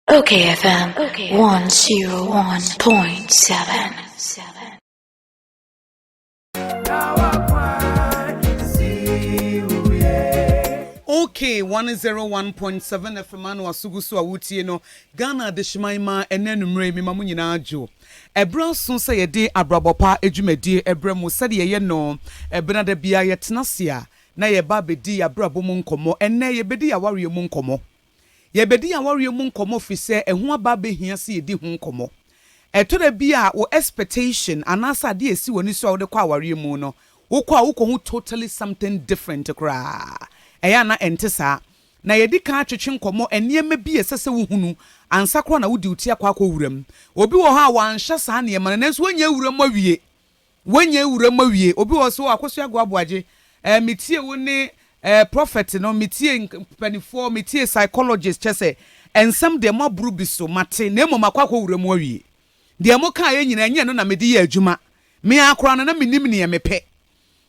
Okay, FM 101.7. Okay, 101.7 FM ano asugu so a wotie no Ghana adehyeman ma ɛnɛ anumere mema mo nyinaa adwo ɛberɛ aso sɛ yɛde abrabɔ pa adwumadie ɛberɛ mu sɛdeɛ yɛyɛ no ɛbenada biara yɛtena ase a Na yɛba abɛdi yɛabrabɔ mu nkɔmmɔ. Ɛnnɛ, yɛbɛdi yɛawareɛ mu nkɔmmɔ. Yɛbɛdi yɛawareɛ mu nkɔmmɔ firi sɛ ɛho aba abɛhia sɛ yɛdi ho nkɔmmɔ. Ɛtɔ da bi a wo expectation anaasɛ adeɛ a ɛsi w'ani so a wode kɔ awareɛ mu no, wokɔ a wokɔhu totally something different koraa. Ɛyɛ a na ɛnte saa. Na yɛadi kan atwetwe nkɔmmɔ nneɛma bi a ɛsɛ sɛ wohunu ansa koraa na wode wo ti akɔ akɔ wura mu. Obi wɔ hɔ a wanhyɛ saa nneɛma no nanso wanya awura mu awie. Wanya awura mu awie. Obi wɔ hɔ so, oh, Akosua Goa Boagye, eh, me tie wo ne, eh, prophet no, me tie mpanifoɔ, me tie psychologist, kyɛ sɛ, nsɛm deɛ mo aboro bi so, mate, na mmom makɔ akɔ wura mu awie. Deɛ mo kaeɛ nyinaa, ɛnyɛ ɛno na mede yɛ adwuma. Me ara koraa no, na mennim neɛ mepɛ.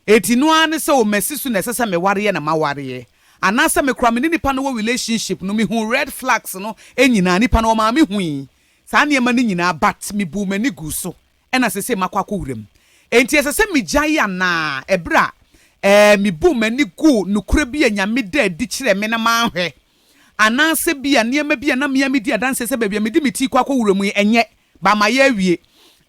Enti no ara ne sɛ, oh, masi so na ɛsɛ sɛ mewareɛ na mawareɛ. Anaasɛ me koraa, me ne nipa no wɔ relationship no, mehuu red flags no nyinaa, nipa no, ɔmaa mehui saa nneɛma no nyinaa, but mebuu m'ani guu so. Ɛna seesei makɔ akɔ wuram. Enti ɛsɛ sɛ migyae anaa? Ɛbere a, ɛɛ, mibuu m'ani guu nokorɛ bi a Nyame da adi kyerɛɛ me na manhwɛ? Anaasɛ bia nneɛma bi a na me ara medi adanseɛ sɛ baabi a mede me ti rekɔ akɔ wuram yi, ɛnyɛ, ba ma yɛawie?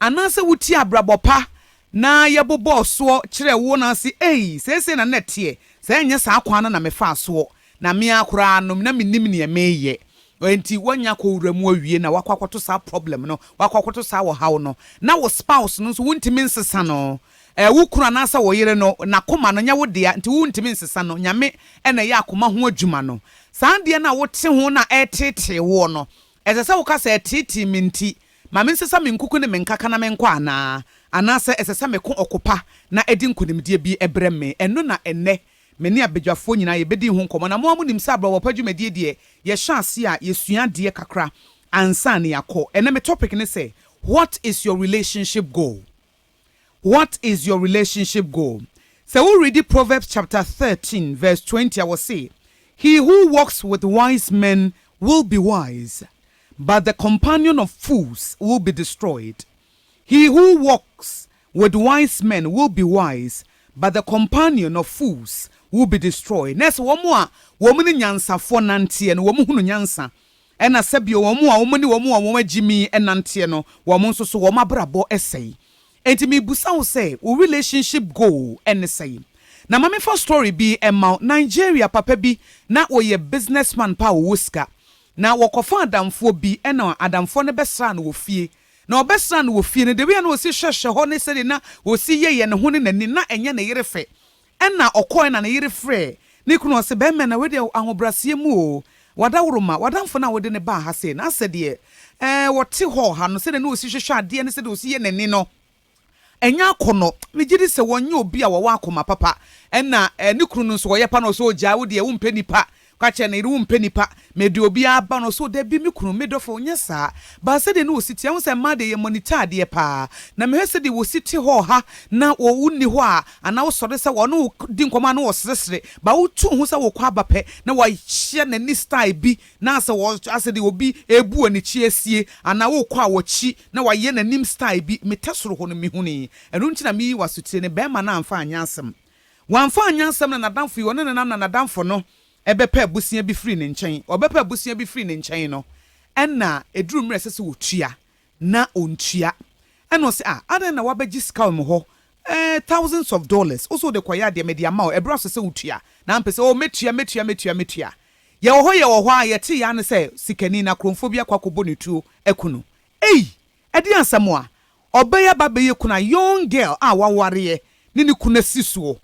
Anaasɛ wotiee abrabɔ pa na yɛbobɔɔ soɔ kyerɛɛ wo na wose, Ei, seesei na na ɛteɛ, sɛ ɛnyɛ saa kwan no na mefaa soɔ Na me ara koraa no, na mennim nea mereyɛ. Enti woanya akɔ wo wura mu awie na woakɔ akɔto saa problem no, woakɔ akɔto saa ɔhaw no, na wo spouse no nso wontumi nsesa no. Ɛɛ, wo kunu anaasɛ wo yere no, n'akoma no nyɛ wo dea, nti wontumi nsesa no. Nyame na ɛyɛ akoma ho adwuma no. Saa adeɛ no a wote ho na ɛreteetee woɔ no, ɛsɛ sɛ woka sɛ, Ɛteetee me nti, ma mensesa me nkuku ne me nkaka na menkɔ anaa? Anaasɛ ɛsɛ sɛ meko ɔko pa na ɛde nkonimdie bi brɛ me? Ɛno na ɛnnɛ Me ne abadwafoɔ nyinaa yɛbɛdii ho nkɔmmɔ na mo ara mo nim sɛ abrabɔpa dwumadie deɛ yɛhyɛ aseɛ a yɛsua adeɛ kakra ansa na yɛakɔ. Ɛnnɛ me topic ne sɛ What is your relationship goal? What is your relationship goal? Sɛ wo readi Proverbs chapter thirteen verse twenty a wɔse He who walks with wise men will be wise but the companion of fools will be destroyed He who walks with wise men will be wise, but the companion of fools will be destroyed. Na ɛsɛ wɔn a wɔne nyansafoɔ nanteɛ no, wɔhunu nyansa, ɛna sɛ bio wɔn a wɔne wɔn a wɔagye mi nanteɛ no, wɔn nso so wɔn abrabɔ sɛe. Enti mebisa wo sɛ, wo relationship goal ne sɛn? Na ma memfa story bi mma wo, Nigeria papa bi, na ɔyɛ businessman pa a ɔwɔ sika, na wɔkɔfa adamfoɔ bi, ɛna adamfoɔ no bɛsraa no wɔ fie, Na ɔbɛsraa no wɔ fie no, debia na ɔsi hwɛhwɛ hɔ ne sɛdeɛ na ɔsi yɛyɛ ne ho ne n'ani, na ɛnyɛ ne yere fɛ. Ɛna ɔkɔɔɛ na ne yere frɛɛ ne kunu, ɔse, Bɛɛma na wei deɛ ahobraseɛ mu oo, w'adaworoma, w'adamfo no a wode no baa ha sei, na asɛ deɛ, ɛɛ, ɔte hɔ ha no, sɛdeɛ na ɔsi hwɛhwɛ adeɛ ne sɛdeɛ ɔsi yɛ n'ani no. Ɛnyɛ akɔnnɔ. Megye di sɛ wɔnyɛ obi a wɔwɔ akoma papa na ne kunu no nso ɔyɛ pa na ɔsɛ ogyaa. Wo deɛ wompɛ nnipa. Ka kyerɛ ne yere wompɛ nnipa. Mede obi aba na ɔsɛ dabi me kunu, me dɔfo. Nyɛ saa. Ba sɛdeɛ na wɔsi te. Ɛho sɛ mmaa deɛ yɛmonita adeɛ pa ara. Na mehwɛ sɛdeɛ wɔsi te hɔ ɔha na wonni hɔ a, anaa wosɔre sɛ wɔne wo di nkɔmmɔ a na wɔseresere. Ba wotu wo ho sɛ wokɔ aba pɛ na wahyɛ n'ani style bi Na sɛ wɔ, asɛ deɛ obi rebu anikyi asie, anaa wokɔ a wɔkyi na wayɛ n'anim style bi, me tɛ soro hɔ no me hunii. Ɛno nti na meyi wo asotire no, barima no amfa anyɛ asɛm. Wamfa anyɛ asɛm na n'adamfo yi, ɔne no nam na n'adamfo no bɛpɛ abusua bi firii ne nkyɛn. Ɔbɛpɛ abusua bi firii ne nkyɛn no, ɛnna ɛduru mmerɛ a ɛsɛ sɛ wɔtua, na ɔntua ɛna ɔse ah adɛn na wabɛgye sika wɔ me hɔ eh thousands of dollars wose wode kɔyɛ adeɛ mede ama wo ɛberɛ aso sɛ wotua na ampɛ sɛ oh mɛtua mɛtua mɛtua mɛtua yɛwɔ hɔ yɛwɔ hɔ a yɛtee aa ne sɛ sikani na kromfoɔ bi akɔ akɔbɔ no tuo aku no ei ɛdeɛn asɛm a ɔbɛyɛ aba abɛyɛ kunu a young girl a wawareɛ ne ne kunu asi soɔ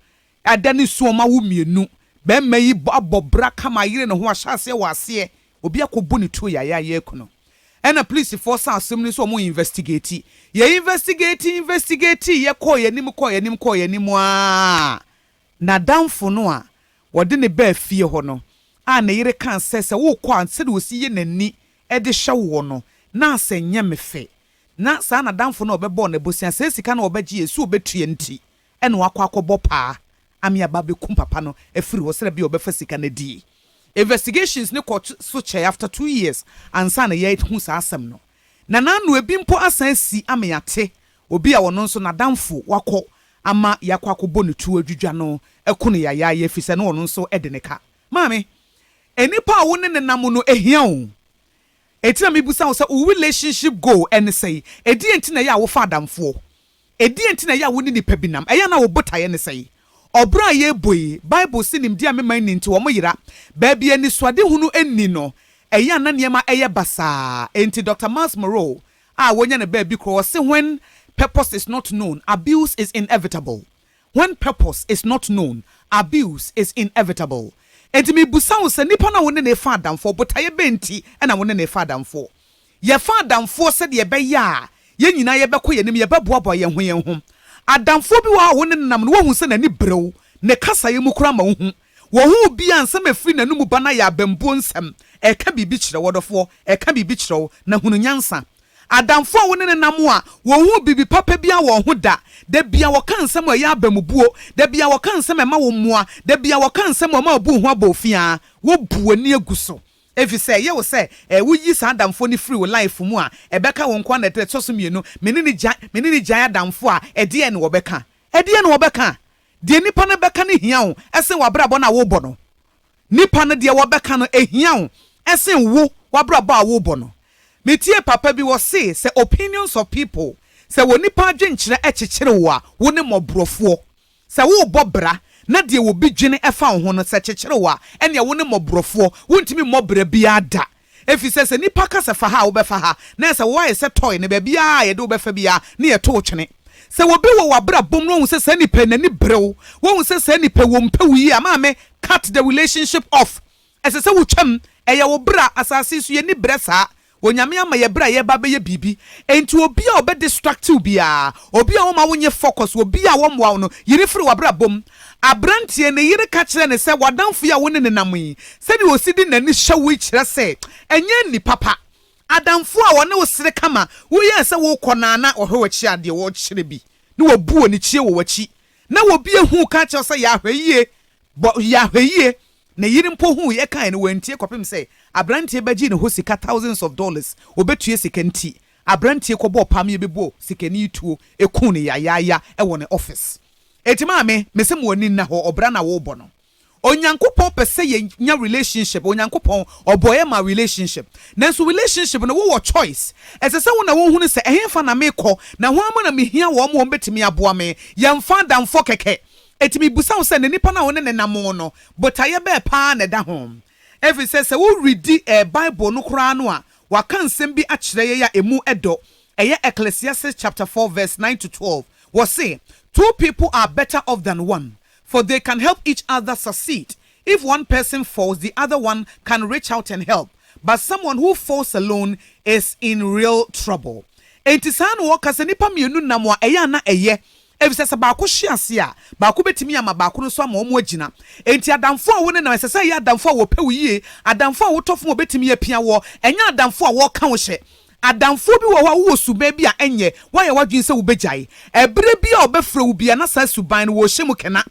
Ɛda no su ɔma wo mmienu. Bɛɛma yi abɔ bra kama ayere ne ho ahyɛ aseɛ wɔ aseɛ obi akɔbu ne tuo yayaa ayɛ akunu ɛna polisifoɔ saa asɛm no nso ɔmo investigate yɛ investigate investigate yɛ kɔɔ yɛ anim kɔɔ yɛ anim kɔɔ yɛ anim aa nadamfo no a wɔde ne baa fie hɔ no a ne yere kaa sɛ sɛ wokɔ a sɛdeɛ ɔsi yɛ nani de hyɛ woɔ no na asɛ nyɛ me fɛ na saa nadamfo no a ɔbɛbɔɔ no abosea saa sika no a ɔbɛgyeɛ su ɔbɛtua nti ɛna wakɔ akɔbɔ paa ame aba abɛkum papa no afiri hɔ sɛdɛ bia ɔbɛfa sika no adie Investigations no kɔ so kyɛɛ after two years ansa na yɛ hu saa asɛm no Nana ano ebi mpo asan asi ame yɛate obi a ɔno nso nadamfo wakɔ ama yɛakɔ akɔbɔ no tuo adwidwa no aku no yayaaya ɛfiri sɛ na ɔno nso de ne ka Maame nnipa a wo ne no nam no ɛhia oo Enti na mebisa wo sɛ wo relationship goal ɛne sɛn? Ɛdeɛn nti na ɛyɛ a wofa adamfoɔ Ɛdeɛn nti na ɛyɛ a wo ne nnipa bi nam? Ɛyɛ a na wo botaeɛ ne sɛn? Ɔbra a yɛrebɔ yi, Bible se nimdeɛ a mema nni nti wɔyera. Baabi a anisoadehunu nni no, ɛyɛ a na nneɛma yɛ basaa. Enti Doctor Myles Munroe a wɔanya no baabi korɔ, ɔse, When purpose is not known, abuse is inevitable. When purpose is not known, abuse is inevitable. Enti mebisa wo sɛ, nnipa no a wo ne no refa adamfoɔ, botaeɛ bɛn nti na wo ne no refa adamfoɔ? Yɛfa adamfoɔ sɛdeɛ ɛbɛyɛ a yɛn nyinaa yɛbɛkɔ yɛn anim, yɛbɛboaboa yɛn ho yɛn ho. Adamfoɔ bi wɔ hɔ a wo ne no nam no, woahu sɛ n'ani bere wo, ne kasaeɛ mu koraa ma wohu. Wɔ ho obi a nsɛm a ɛfiri n'anomu ba no ayɛ abambuo nsɛm, ɛreka biribi kyerɛ wo. Ɔdɔfoɔ, ɛreka biribi kyerɛ wo, na hunu nyansa. Adamfoɔ a wo ne no nam a wɔnhuu biribi papa biara wɔ wo ho da, da biara wɔka nsɛm a ɛyɛ abamubuo, da biara wɔka nsɛm a ɛma wo mmoa, da biara wɔka nsɛm a wɔma wobu wo ho abɔɔfiaa, wobu w'ani agu so, Efisɛ ɛyɛ wo sɛ eh woyi saa adamfoɔ no firi wo life mu a ɛbɛka wo nkoa na ɛde ɛtɔso mmienu me ne no gya me ne no gyae adamfoɔ a ɛdeɛn na wɔbɛka ɛdeɛn na wɔbɛka deɛ nipa no bɛka no hia wo ɛsen wabrabɔ no a wobɔ no nipa no deɛ wɔbɛka no ɛhia wo ɛsen wo wabrabɔ a wobɔ no metiee papa bi wɔse sɛ opinions of people sɛ wɔ nipa adwenkyerɛ ɛkyekyere wo a wo ne mɔborɔfoɔ Sɛ worebɔ bra na deɛ obi dwene fa wo ho no sɛ kyekyerew a, ɛnneɛ wo ne mmɔborɔfoɔ, worentumi mmɔ bra biara da. Ɛfiri sɛ, sɛ nnipa ka sɛ fa ha a, wobɛfa ha, na ɛsɛ sɛ woayɛ sɛ tɔe, na baabiara a yɛde wo bɛfa biara, na yɛto wo twene. Sɛ obi wɔ w'abrabɔ mu na woahu sɛ saa nipa yi n'ani bere wo, woahu sɛ saa nipa yi, wɔmpɛ wo yie a, maame, cut the relationship off. Ɛsɛ sɛ wotwam. Ɛyɛ wo bere a asase so yenni bere saa. Onyame ama yɛ bere a yɛreba abɛyɛ biribi. Enti obi a ɔbɛ distract wo biara, obi a ɔmma wo nye focus, obi a ɔmmoa wo no, yi no firi w'abrabɔ mu. Aberanteɛ yi, ne yere ka kyerɛɛ no sɛ, W'adamfo yi a wo ne no nam yi, sɛdeɛ ɔsi de n'ani hyɛ wo yi kyerɛ sɛ ɛnyɛ nni papa. Adamfo a ɔne wo sere kama, woyɛɛ sɛ worekɔ no ara na ɔhwɛ w'akyi a deɛ ɔrekyerɛ bi, na wabu ɔnikyiɛ wɔ w'akyi. Na obi ahu wo ka akyerɛ wo sɛ, Yɛ ahwɛyie, Bɔ yɛ ahwɛyie, ne yere mpo hui ɛkaeɛ no wantie kɔpem sɛ abranteɛ bɛgye ne hɔ sika thousands of dollars ɔbɛtua sika nti abranteɛ kɔbɔɔ pam yɛ bɛbɔɔ sikani yi tuo ɛkuu no yayaaya ɛwɔ ne office Eti maame mese mo ani nna hɔ ɔbra na wobɔ no Onyankopɔn pɛ sɛ yɛ nya relationship Onyankopɔn ɔbɔ yɛ maa relationship nanso relationship no wo wɔ choice ɛsɛ sɛ wo na wo hunu sɛ ɛhefa na me kɔ na hwan mo na me hia wɔn wɔn bɛtumi aboa me yɛ mfa adamfɔ kɛkɛ Enti mibisa wo sɛ, na nnipa no a wo ne no nam no, botaeɛ bɛn paa na ɛda ho? Ɛfiri sɛ, sɛ woredi Bible no koraa no a, wɔaka nsɛm bi akyerɛ yɛn a emu dɔ. Ɛyɛ Ecclesiastes chapter four verse nine to twelve. Wɔse, Two people are better off than one, for they can help each other succeed. If one person falls, the other one can reach out and help, but someone who falls alone is in real trouble. Enti saa na wɔka sɛ, nnipa mmienu nam a, ɛyɛ a na ɛyɛ Efisɛ sɛ baako hwe ase a, baako betumi ama baako no nso ama wɔagyina. Enti adamfo a wo ne no, ɛsɛ sɛ ɛyɛ adamfo a wɔpɛ wo yiye, adamfo a wotɔ fam a obetumi apia woɔ, ɛnyɛ adamfo a wɔka wo hyɛ. Adamfo bi wɔ hɔ a wowɔ suban bi a ɛnyɛ, woayɛ w'adwene sɛ wubegyae. Bere biara a wɔbɛfrɛ wo biara na saa suban no, wɔrehyɛ mu kena.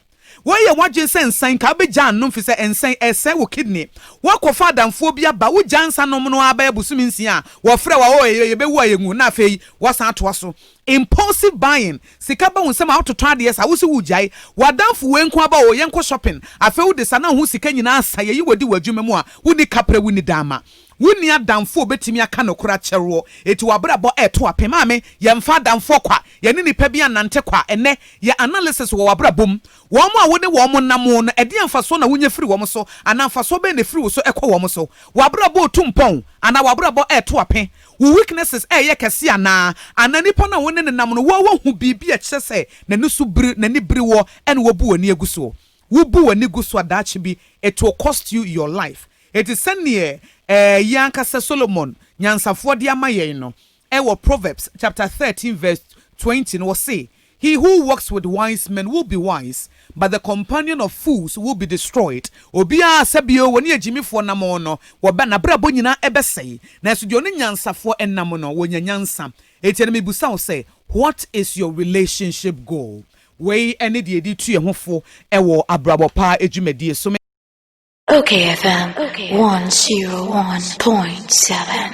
Woayɛ w'adwene sɛ nsa yi nka wobɛgyaa nnom fi sɛ nsa yi ɛresɛe wo kidney. Woakɔfa adamfoɔ bi aba, wogyaa nsa nom no ara bɛyɛ bosome nsia a, wɔfrɛ wo a, oh ɛyɛ yɛbɛwu a yɛnwu, na afei woasan atoa so. Impulsive buying, sika ba wo nsam a wototɔ adeɛ saa, wose woregyae. W'adamfo wei nko aba oo yɛnkɔ shopping, afei wode saa na wo ho sika nyinaa asa, yɛyi wo adi w'adwuma mu a, wonni kaprɛ, wonni dama. Wo nni adamfo a obetumi aka nokore akyere woɔ, eti w'abrabɔ reto apem. Maame, yɛmfa adamfoɔ kwa, yɛne nnipa bi annante kwa. Ɛnnɛ, yɛ analysis wɔ w'abrabɔ mu. Wɔn a wone wɔn namoo no, ɛdeɛn mfasoɔ na wonya firi wɔn so, anaa mfasoɔ bɛn na efiri wo so kɔ wɔn so? W'abrabɔ retu mpɔn, anaa w'abrabɔ reto ape? Wo weaknesses reyɛ kɛse anaa? Anaa nnipa no a wone no nam no, woahu biribi a ɛkyerɛ sɛ n'ani so biri, n'ani biri woɔ, ɛna wabu w'ani agu soɔ? Wubu w'ani gu so a daakye bi it will cost you your life. Enti sɛdeɛ ɛyɛ anka sɛ Solomon nyansafoɔ de ama yɛn no, ɛwɔ Proverbs chapter thirteen verse twenty no, ɔse, He who walks with wise men will be wise, but the companion of fools will be destroyed. Obiara a sɛ bi o ɔne agyimifoɔ nam no, wɔbɛ, n'abrabɔ nyinaa ɛbɛsɛe, nanso deɛ ɔne nyansafoɔ nam no, wɔnya nyansa. Enti ɛnnɛ mebisa wo sɛ, what is your relationship goal? Wei ne deɛ yɛde tu yɛn ho fo wɔ abrabɔ pa dwumadie so. Ok FM one zero one point seven.